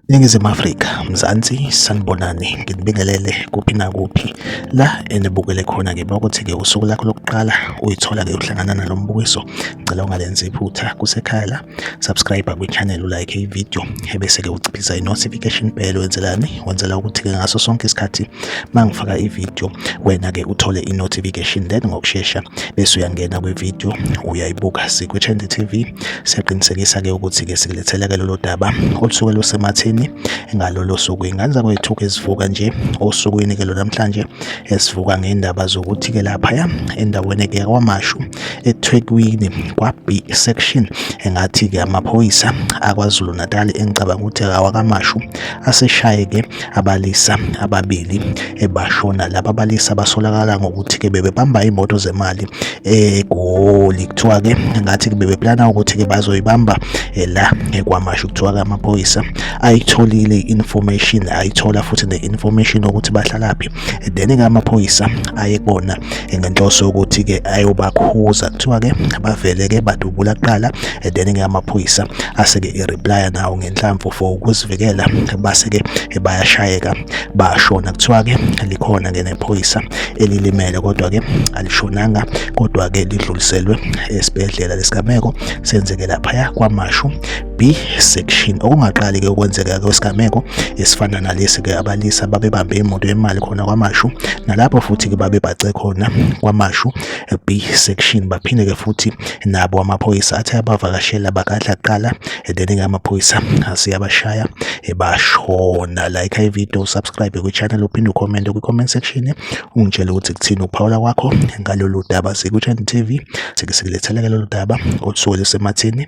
Ningizimu Afrika, Mzansi, sanibonani, nginibingelele kuphi nakuphi la enibukele khona-ke bakuthi-ke usuku lakho lokuqala uyithola-ke uhlangana nalo mbukiso, ngicela ungalenzi iphutha kusekhaya la. subscribe kwichannel ulike ivideo ebese-ke uciphiza i-notification bell wenzelani wenzela ukuthi-ke ngaso sonke isikhathi uma ngifaka ivideo wena-ke uthole i-notification then ngokushesha bese uyangena kwivideo uyayibuka sikwichende tv siyaqinisekisa-ke ukuthi-ke sikulethela-ke lolo daba olusuke lusemathini ngalolo suku ingane zakwethu-ke ezivuka nje osukwini-ke lonamhlanje esivuka ngendaba zokuthi-ke laphaya endaweni-ke yakwamashu eThekwini kwa-B section engathi-ke amaphoyisa aKwaZulu Natal engicabanga ukuthi awakamashu aseshayeke abalisa ababili ebashona laba balisa basolakala ngokuthi-ke bebebamba imoto zemali eGoli kuthiwa-ke ngathi bebeplana ukuthi-ke bazoyibamba eh, la ekwamashu kuthiwa-ke amaphoyisa ayitholile i-information ayithola futhi ne-information ukuthi bahlalaphi then-ke amaphoyisa ayekona ngenhloso yokuthi ke ayobakhuza kuthiwa ke bavele ke badubula kuqala and then ke amaphoyisa ase ke ireply nawo ngenhlamvu for ukuzivikela base ke bayashayeka bashona kuthiwa ke likhona ke nephoyisa elilimele kodwa ke alishonanga kodwa ke lidluliselwe esibhedlela lesigameko senzeke lapha kwamashu B section okungaqali ke ukwenzeka kwesigameko esifana nalesi ke abalisa babebambe imoto yemali khona kwamashu nalapho futhi ke babebhace khona kwamashu B section baphinde ke futhi nabo amaphoyisa athi abavakashela bakadla kuqala then ke amaphoyisa asiyabashaya ebashona like i video subscribe kwi channel uphinde ucomment kwi comment section ungitshele ukuthi kuthini ukuphawula kwakho ngalolu daba siku Channel TV sike sikulethela ke lolu daba othole semathini